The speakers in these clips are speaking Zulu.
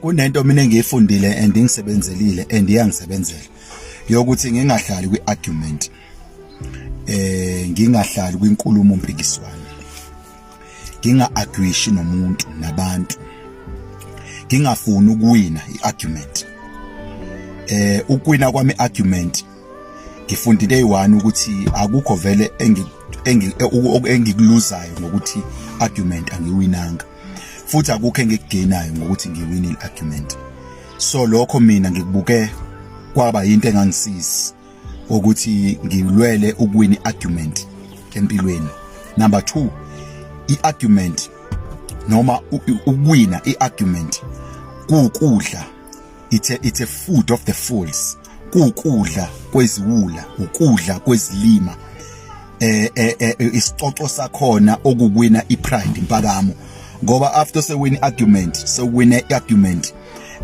kunento mina engiyifundile and ingisebenzelile and iyangisebenzela yokuthi ngingahlali kwi-argument eh ngingahlali kwinkulumo mpikiswano nginga-agwishi nomuntu nabantu ngingafuni ukuwina i-argument eh ukuwina kwami argument ngifundile eyi-one ukuthi akukho vele engikuluzayo ngokuthi argument angiwinanga futhi akukho engikugenayo ngokuthi ngiwine i-argument so lokho mina ngikubuke kwaba yinto engangisizi ukuthi ngilwele ukuwina i-argument empilweni number 2 i-argument noma ukuwina i-argument kuwukudla it's a, it's a food of the fools kukudla kweziwula ukudla kwezilima eh, eh, eh, eh isicoco sakhona okuwina ipride impakamo ngoba after sewin argument sewin argument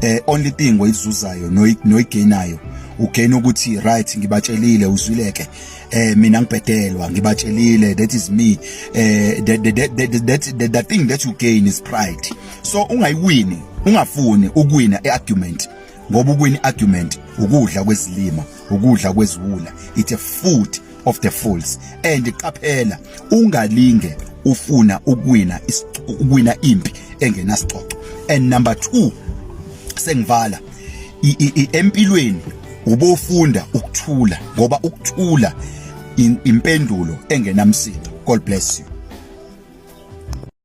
eh only thing oyizuzayo noyigainayo ugain ukuthi right ngibatshelile uzwileke eh mina ngibhedelwa ngibatshelile that is me eh the, the, the, the, the, the thing that you gain is pride so ungayiwini ungafuni ukuwina iargument ngoba ukuwina iargument ukudla kwezilima ukudla kweziwula it's a food of the fools and qaphela ungalinge ufuna ukuwina ukuwina impi engenasixoxo and number 2 sengivala empilweni ubofunda ukuthula ngoba ukuthula impendulo engenamsindo god bless you